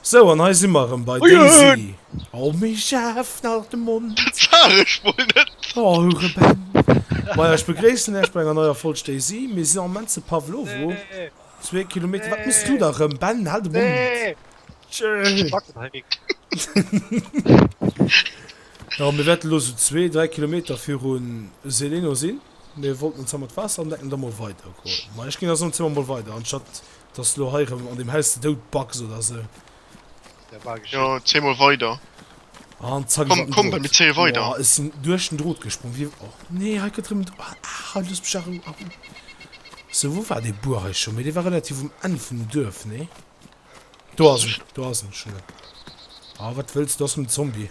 So an hei si mer erëm bei Daisy. Oh mee ech aaf nach de Mond. Dat sah ech mol net. Oh hure Ben. Majo ech begréissen iech bei enger neier Folg Daisy. Mir sinn am Moment zu Pavlovo, zwee Kilometer. Wat mëss du da rëm Ben? Hal de Mond. Jo mir wäerten elo sou zwee, dräi Kilometer virun Zeleno sinn. Mir wollten ons da mat Waasser andecken an da mol weider goen. Majo ech ginn da soen, zi mer mol weider anstatt Dass du lo hei rem an dem Haus de Doud backs oder sou. Dat war geschéckt. Jo, zéi mol weider. An zack komm komm bei mir zéie weider. Ech sin duerch den Drot gesprong wéi och nee hei gëtt rem ah looss mech a Rou a Rou. Sou wou war dee Bur hei scho mee dee war relativ um Enn vun dem Duerf nee? Do ass en do ass en ech hun en ah wat wëlls du ass en Zombie.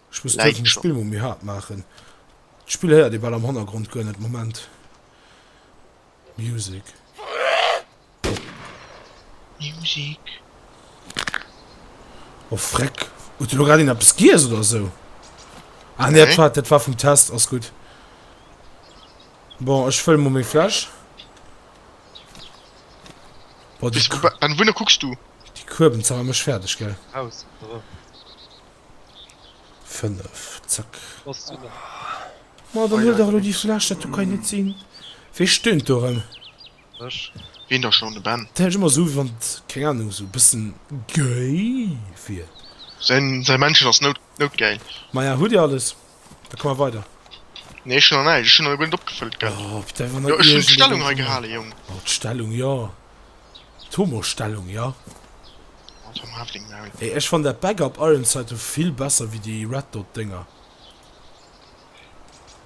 Ech muss duerfen de Spill mol méi haart maachen. D'Spill héiert ee bal am Hannergrond guer net. Moment. Music. Music. Oh freck. Huet de lo grad een eppes giess oder esou? Ah nee, dat dat war vum Test. Ass gutt. Bon, ech fëlle mol méi Fläsch. An wouhinner kucks du? Déi Kueben zerra mech fäerdeg, gell? Raus, erëm. 5, zack. Ma dann huel dach elo déi Fläsch, dat do kann jo net sinn. Wee stöhnt do erëm? Ech. Ween da schon? De Ben. Dat hëlt ëmmer esou, wéi wann et, keng Ahnung, esou e bëssen gay wier. Säi Männchen ass noutgäil. Maja, hutt Dir alles? Da komme weider. Nee ech hun nach näischt, ech hun nach guer net opgefëllt gehat. Oh, op denger Nei. Jo ech hun d'Stellung hei gehale Jong. Oh d'Stellung jo, d'Homo-Stellung jo. Oh Tom haf deng Maul. Ey ech fann dat Backup Ironside vill besser wéi déi Red Dot Dénger.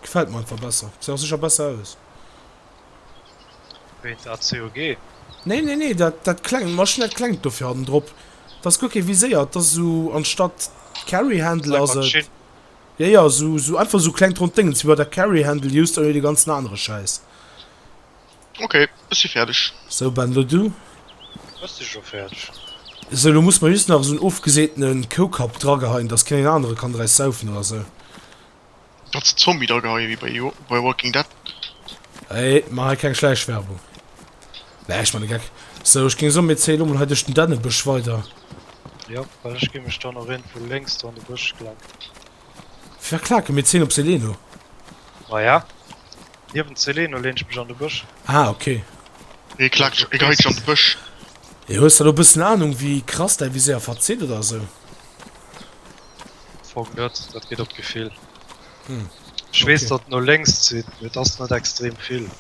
Gefällt mer einfach besser, gesäit och secher besser aus. Wéi dat COG? Nee nee nee dat dat klengt, ma ech hun dat klengt dofir hannen drop, dat ass guer kee viséiert, dat ass esou anstatt Carry Handle ass et. Ja ja sou sou einfach sou klengt ronnt Déngens wéi bei der Carrie Handel just ouni de ganzen anere Schäiss. Ok ech si fäerdeg. Sou Ben lo du? Ech si scho fäerdeg. Sou lo muss mer just nach esoun ofgeseetenen Koukapp drageheien dass keen een anere kann draus saufen oder sou. Kannst de Zombie drageheien wéi bei Walking Dead. Hey, man hei keng Schläichwerbung. Nee, ech man e Geck. Sou, ech géing soen, mir zéie lo mol hei duerch den Dännebësch weider. Jo, well ech gi mech dann och iergendwou lénks do an de Bësch klacken. Fir wat klaken? Mir zéien op Seleno. Maja, niewent Seleno leen ech mech an de Bësch. Ah, okay. Ee klakt sech geigeg an de Bësch. Ee, hues de lo e bëssen Anung, wéi krass däi Viséier verzitt oder sou? Fong net, dat geet op d'Gefill. Ech weess, datt et no lénks zitt, mee et ass net extrem vill.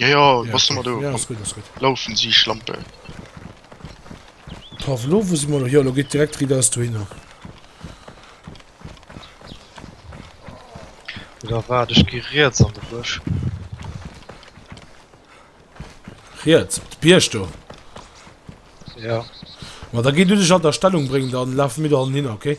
Jo jo, bass du mol do. Ass gutt, ass gutt. Loufen si Schlampe. Paf, elo wou si mol. Jo, elo geet direkt ridders dohinner. Oder waart, ech gi riets an de Bësch. Riets op de Bierg do? Ja. Ma da gi du dech an der Stellung bréngen, dann lafe mir do hannen hinner, okay?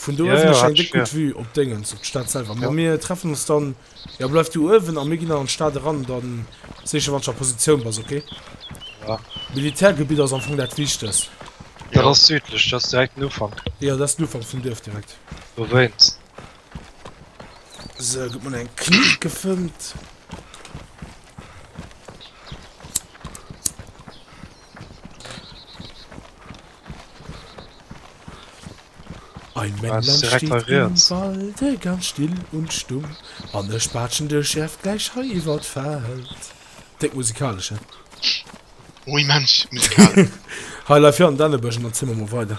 Vun do ech eng déck gutt Vue op Déngens, op d'Stad selwer. Ma mir treffen ons dann, jo bleif du uewen a mir ginn dann an d'Stad eran an dann seech ech wanns du a Positioun bass, ok? Ja. Militärgebitt ass am Fong dat wichtegst. Dat ass südlech, dat ass direkt den Ufank. Jo, dat ass den Ufank vum Duerf direkt. Dowéinst. Sou, gëtt mol eng Knipp gefëmmt. Ein Männlein steht im Walde ganz still und stumm an e Spaatschen de schärft gläich hei iwwer d'Feld. Déck musikalesch, he? Oh, immens musikalesch! Hei leif fir an Dännebësch an dann zi mer mol weider.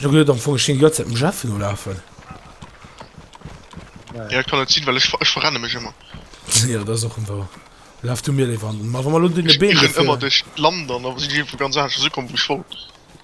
Du gët am Fong schen Joerzäit dem Jeff no lafen. Ja kann net sinn, well ech ech verrenne mech ëmmer. Ja dat ass och en war. Laf du mir léiwer an den. Ma wa mer lo dunne Been. Ech rënn ëmmer duerch d'Land an da sinn ech iergendwou ganz aneschters ukomm wou ech wollt.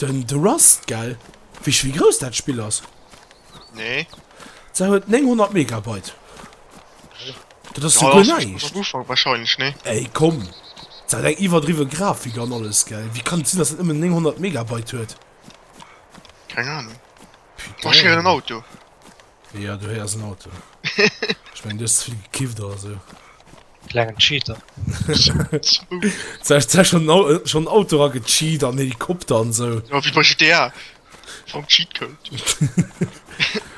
Den de Rust gell? Wees wéi grouss dat Spill ass? Nee. Sat huet 900 Megabyte. Dat ass jo guer näischt. Ufang wahrscheinlech nee. Ey komm, dat hat eng iwwerdriwwe Grafik an alles gell? Wéi kann et sinn dass dat nëmmen 900 Megabyte huet? Keng Ahnung. Marschéieren en Auto. Ja, du héiers en Auto. Ech mengen, du hues ze vill gekifft oder sou. Klengen Cheater. Sech sech schon Au- äh, schon Auto ra gecheat an Helikopter an sou. Ja, wie bei GTA. Vom Cheatcode.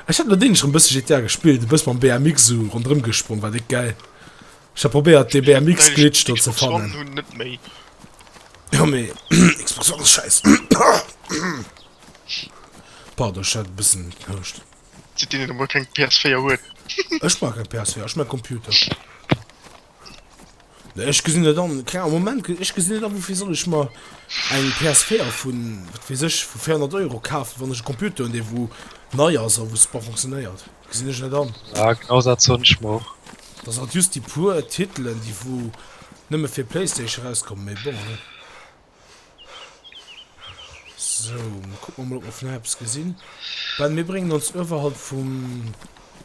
Ech hat mat deene schon bësse GTA gespillt, du bëss mam BMX sou ronderëm gesprong, war déck gäil. Ech hat probéiert dee BMX Glitch do ze fannen. Hun net méi. Jo mee Xbox One ass schäiss. Pardon, ech hat e bëssen gekauscht. Zitt deen een emol keng PS4 huet. Ech brauch keng PS4, ech mein Computer. Nee, ech gesinn net an, keng Ahnung, Moment, ech gesinn net an woufir soll ech mer eng PS4 vun, wat weess ech, vu 400 Euro kafen, wann ech e Computer hunn dee wou nei ass a wou super funktionéiert. Gesinn ech net an. Ja, genau dat soen ech mer och. Da sinn dat just déi puer Titelen déi wou nëmme fir Playstation erauskommen, mee bon. So, kuck mer mol op mer vun hei eppes gesinn. Ben, mir bréngen ons ëwerhalb vum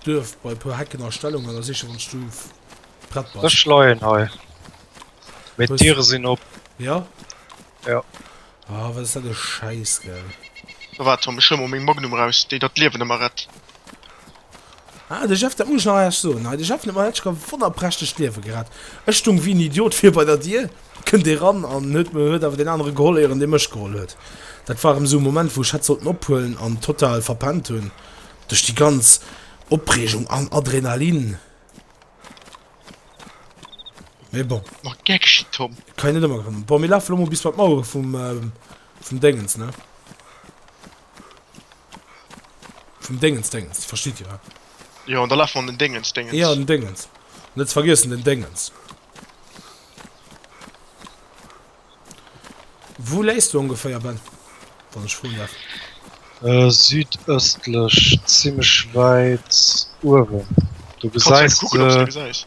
Duerf bei e puer Hecken a Stellung an da seech de wann du prett bass. Ech leien hei. Mee d'Diere sinn op. Ja? Ja. Ah, wat ass dat e Schäiss, gell. Sou, waart, Tom, ech huele mol meng Magnum raus, déi der d'Liewen ëmmer rett. Ah de Jeff, dat muss ech nach Äech soen hei, de Jeff den hat ech e wonnerprächtegt Liewe gerett. Ech stung wéi en Idiot vir bei der Dier, kënnt ee ran an huet mir huet awer deen anere geholl éieren dee mech geholl huet. Dat war erëm sou e Moment wou ech hätt sollten ophuelen an total verpennt hunn duerch déi ganz Opreegung an Adrenalin. Mee bon. Mat Geckchen Tom. Kann een net ëmmer gewannen. Bon mir lafe lo mol bis bei d'Mauere vum vum Déngens ne. Vum Déngens, Déngens, verstitt Dir, he? Jo, an da lafe mer an den Déngens, Déngens. Jo, an den Déngens. Net ze vergiessen, den Déngens. Wou léis du ongeféier, Ben, wann ech froen däerf? Südëstlech, zimmlech wäit uewen. Du gesäis se.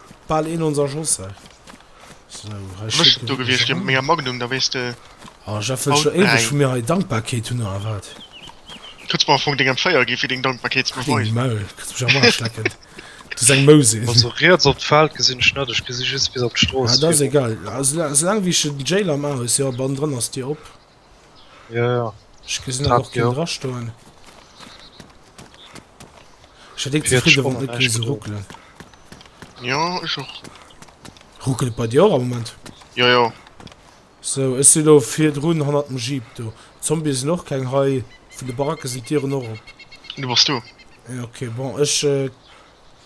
Bal een onser Schoss hei. So, hei Wéi bist du do gewiescht fir mega Magnum, da wéis de. Oh Jeff, wëlls du éiweg vun mir hei Dankbarkeet hunn oder wat? Kënns mer am Fong deng Empféier ginn fir deng Dankbarkeet ze beweisen. Deng Maul, kënns mech am Arsch lecken. Du seng Mou sinn. Also riets op d'Feld gesinn ech net, ech gesinn just bis op d'Strooss virun. Ah dat ass egal, esou laang wéi ech den Jail am A hues, jo, bannendrënn ass d'Dier op. Ja, ja. Ech gesinn awer och keen drastoen. Ech hätt deng zefridde wann net géi se ruckelen. Ja, ech och. Ruckelt bei dir och am Moment? Ja, ja. So, ech si lo virdrun hannert dem Jeep do. Zombie sinn och keng hei. Vun de Baracke sinn d'Dieren och op. Du bass do? Ja, okay, bon, ech.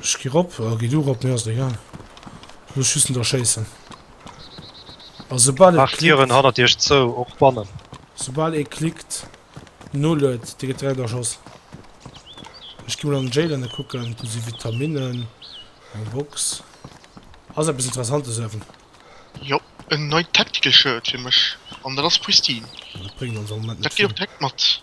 Ech gi rop, a gi du rop, mir ass et egal. Ech muss just net erschéissen. A soubal et klickt. Maacht d'Dieren hannert iech zou, och bannen. Soubal ee klickt, noluet, dee gëtt direkt erschoss. Ech gi mol an den Jail ënne kucken. Do si Vitaminnen, eng Box. Ass eppes Interessantes uewen? Jo, en neit Tactical Shirt fir mech, an dat ass pristine. Dat bréngt ons am Moment net vill. Dat geet och direkt mat.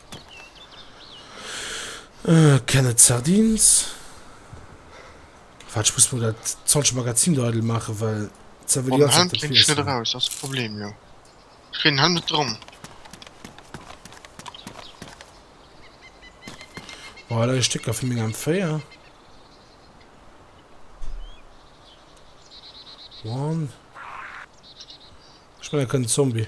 Can et sardines? Waat ech muss mol daat zolscht Magazin do eidel maachen well ze well jo dat wiessen. Bon hei leie Stécker vun menger M4. One. Ech mengen e kënnt Zombie.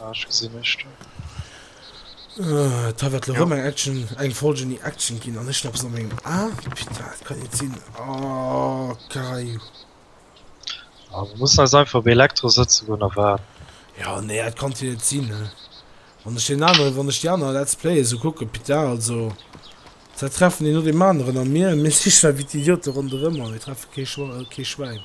Ah, ech gesinn ech do. D'Haff hat lo rëm eng Action, eng Folge un déi Action ginn an ech sinn eppes an mengem A. Putain, dat kann net sinn. Oh, Kayou. Ah, mir mussen eis einfach op Elektro sëtze goen a waarden. Jo, nee, dat kann jo net sinn, hä? Wann ech deen anere, wann ech déi aner Let's Playe esou kucken, putain, also, da treffen een no deem aneren a mir, mir sichen einfach wéi d'Idiote ronderëm a mir treffe kee Schwa-, kee Schwäin.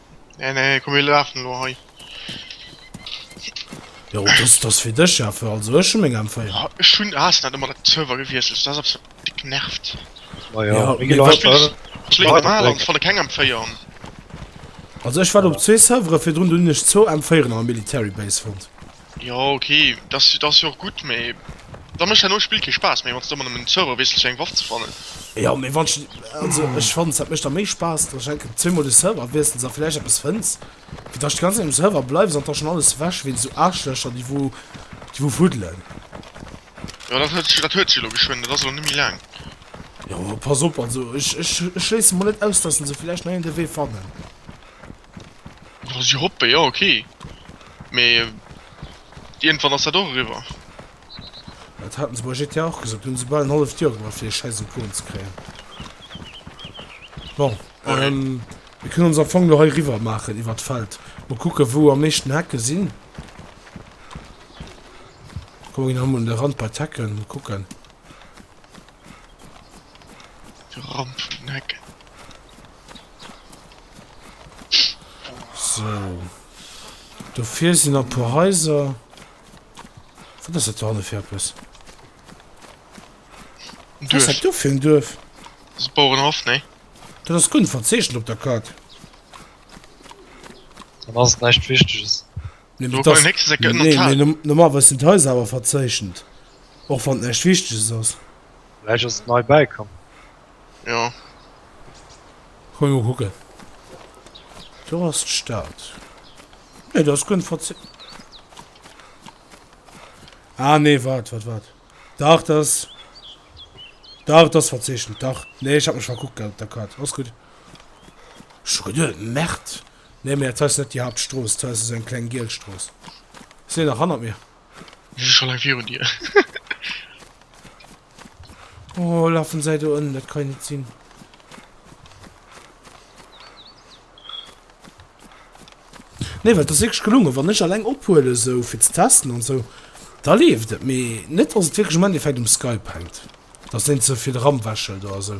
Nee, nee, komm mir lafen lo hei. Jo, das, das fir dech ja für, also ech hun meng M4. Ah, Ech hunn Asen dat ëmmer dat Server gewiesselt, dat ass absolut dick nervt. Ma Ja, jo, mir wat- Ech léieren am Alan, ech fannen keng M4 an. Also ech war op zwee Servere virdrun, do hunn ech zwou M4'en an der Military Base fonnt. Jo ok, dass ass jo och gutt, mee da mécht dat neue Spill kee Spaass méi, wann s de ëmmer nëmmen den Server wiesselst fir eng Waff ze fannen. Jo mee wann s de, also ech fannen dat mécht da méi Spaass, dass s enke zweemol de Server wiessels a villäicht eppes fënns, wéi dass s d'ganz Zäit um Server bleiws an da schon alles ewech wéinst esou Aarschlëcher déi wou déi wou fuddelen. Jo dat huet sech dat huet sech elo geschwënn, dat ass elo net méi laang. Jo pass op, also ech ech ech schléisse mol net aus dass s de villäicht nei en de Wee fannen. Wann si hoppe jo ok, mee iergendwann ass dat och eriwwer. Dat haten se bei GTA och gesot, do hunn se bal en halleft Joer gebraucht fir dee schäiss Icon ze kréien. Bon, mir kënnen ons am Fong elo hei eriwwer maachen iwwert d'Feld, mol kucke wou am meeschten Hecke sinn. Komm mir ginn erëm un de Rand bei d'Hecken, mol kucken. De Rand vun den Hecken. So. Dofir sinn a puer Häiser. Wat ass dat hanne fir eppes? Was hat du fir en Duerf? Das ist Bauernhof, ne? Dat ass gun verzeechent op der Karte. Dann ass et näischt Wichteges. Nee, Du, beim nächsten Sek geändert Tal. nee, normal was sind Häuser awer verzeechent. Och wann näischt Wichteges ass. Vläicht ass et nei bäikomm. Jo. Ech muss mol kucken. Do ass d'Stad. Nee, do ass guer net verzielt. Ah nee, wat, wat, wat. Dach, dat ass. Dach, dat ass verzeechent, dach. Nee, ech hat mech verkuckt gehat op der Kaart. Ass gutt. Ech hu geduet, Merd. Nee, mä dat hei ass net déi Haaptstrooss. Dat hei ass esou eng kleng giel Strooss. Ass déi nach hannert mir? Déi si scho laang virun dir. Oh, lafen säi do ënnen, dat ka jo net sinn. Nee, well et ass wierklech gelunge. Wann ech alleng ophuelen, esou fir ze testen an esou, da leeft et. Mee net, datt et wierklech am Endeffekt um Skype hänkt, datt deen ze vill Ram wächelt oder esou.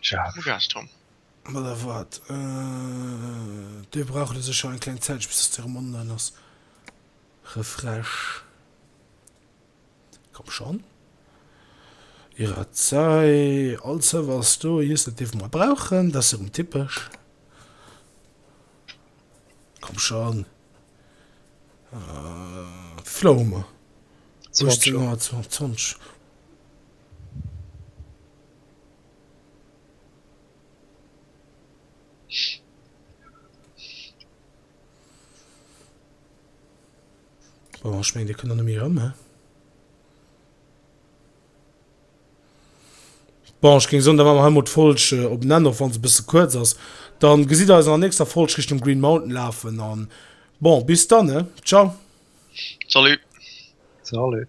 Scharf. Gas dran. Ma da waart, do brauch et sécher eng kleng Zäitchen, bis dass de erëm online ass. Refresh. Komm schonn. Irazai, all Server ass do, just dat dierfe mer brauchen, dat ass erëm typesch. Komm schonn. Wéivill hu mer? 18 Auer, 20. Bon, ech meng, Dir kënnt dann ëm erëm, he? Bon, ech géing soen, da maache mer hei mol d'Folg op en Enn, och wann se e bësse kuerz ass. Dann gesitt Der eis an der nächster Folg Richtung Green Mountain lafen an, bon, bis dann, he? Ciao. Salut. Salut.